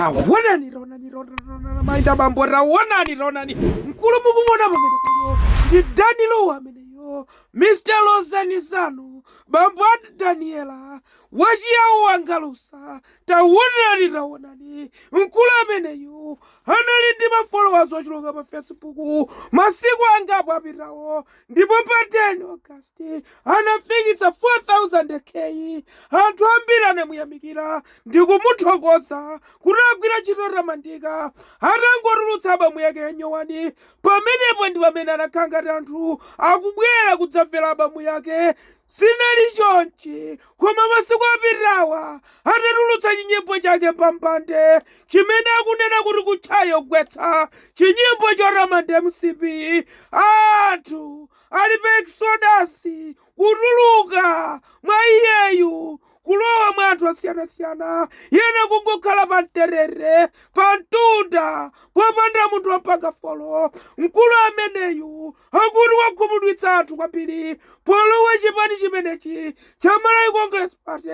tawonani tawonani tawonani mayi ndi bambo tawonani tawonani mkulu mukumuona pamenepayo ndi dan lu ameneyo mr londolani zanu bambo ati daniela wachiyawo wangalusa tawonani tawonani mkulu ameneyu anali ndi mafollowers ochuluka pa facebook masiku angapo apitawo Ndipo pa 10 August anafikitsa 400 K. Anthu ambiri anamuyamikira ndi kumuthokoza kuti agwira ntchito yotamandika. Atangotulutsa abamu yake yanyowani, pamenepo ndi pamene anakhala ngati anthu akubwera kudzamvera abamu yake. Sizinali chonchi Koma masiku apitawa atatulutsa chinyimbo chake Mbambande chimene akunena kuti kutchaya kugwetsa, chinyimbo chotamanda mcp, anthu ali pa exodus kutuluka mwa iyeyu kulowa mwa anthu osiyanasiyana ena kungokhala pa mtetete, pa mtunda popanda munthu omupanga follow. Mkulu ameneyu akuti wakhumudwitsa anthu kwambiri polowa chipani chimenechi cha Malawi Congress Party.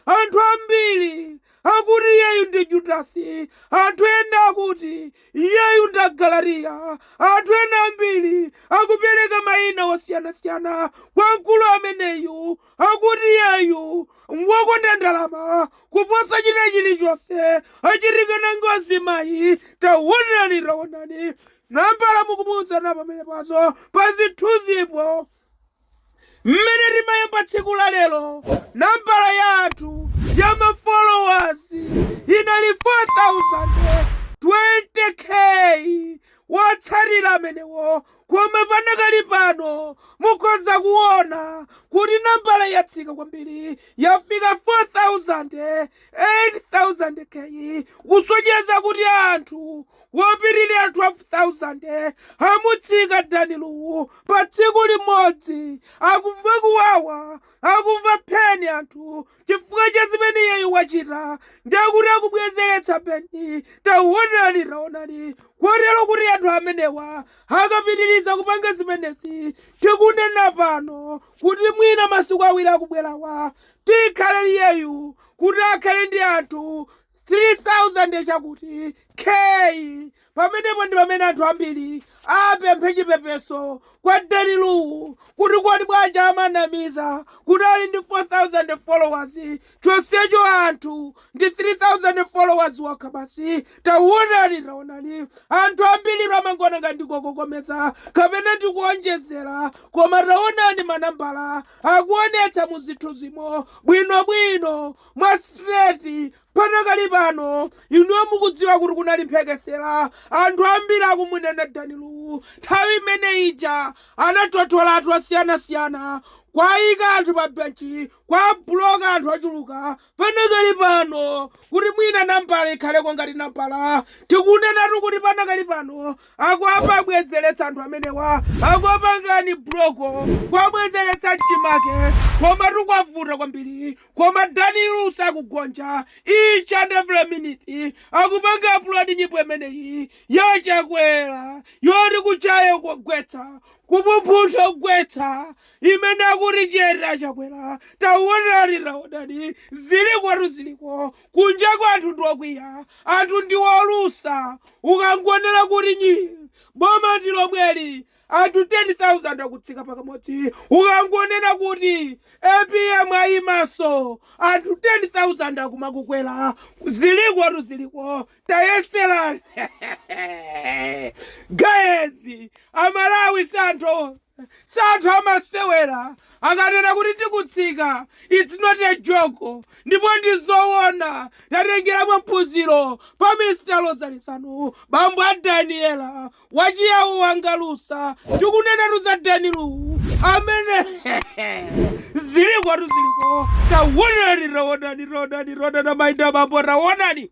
Anthu ambiri akuti iyeyu ndi Judasi, anthu ena akuti iyeyu ndi Galatiya, anthu ena ambiri akupereka mayina osiyanasiyana kwa mkulu ameneyu, akuti iyeyu ngwokonda ndalama kuposa china chilichonse. Achitika ndi ngozi mayi, taonani taonani. Nambala mukuziona pamenepazo pa zithunzipo mmene timayamba tsiku la lero nambala ya anthu ya ma followers inali 420k wotsatira amenewo koma panakali pano mukhoza kuona kuti nambala yatsika kwambiri yafika 400 8 K kusonyeza kuti anthu wopitirira 12000 amutsika dan lu pa tsiku limodzi akumva kuwawa akumva pheni anthu chifukwa cha zimene iyeyu wachita ndekuti akubwezeretsa pheni taonani taonani kotero kuti anthu amenewa akapitiriza kupanga zimenezi tikunena pano kuti mwina masiku awiri akubwerawa Tikhale iyeyu kuti akhale ndi anthu 300 chakuti K pamenepo ndi pamene anthu ambiri apemphe chipepeso kwa Dan Lu kuti kodi bwanji amanamiza kuti ali ndi 400,000 followers chonsecho anthu ndi 300,000 followers okha basi. Taonani taonani anthu ambiritu amangoona ngati ndikokokomeza kapena ndikuonjezera koma taonani manambala akuonetsa mu zithunzimo bwino bwino mwa straight panakali pano inuyo mukudziwa kuti kunali mphekesera anthu ambiri akumunena Dan Lu nthawi imene ija anathothola anthu osiyanasiyana kuwaika anthu pa benchi kuwabuloka anthu ochuluka Panakali pano, kuti mwina nambala ikhaleko ngati nambala, tikunenatu kuti panakali pano akumawabwezeretsa anthu amenewa akuwapanga unblock kuwabwezeretsa mchimake komatu kwavuta kwambiri koma Dan Lu sakugonja each and every minute akupanga upload nyimbo imeneyi ya Chakwera yoti kuchaya kugwetsa kupuphuntha kugwetsa imene akuti cheer a Chakwera taonani taonani zilikotu ziliko kunjako anthu ndi okwiya anthu ndi olusa ukangonena kuti boma ndi lomweli anthu 10000 akutsika pakamodzi ukangonena kuti APM ayimanso anthu 10000 akumakukwera zilikotu ziliko tayeserani guys amalawi si anthu Si anthu amasewera akanena kuti tikutsika it's not a joke ndipo ndi zowona tatengeranipo phunziro pa Mr Lozani Zanu bambo a Daniella wachiyawo wangalusa tikunenatu za Dan Lu amene zilikotu ziliko tawonani tawonani tawonani tawonani mayi ndi abambo tawonani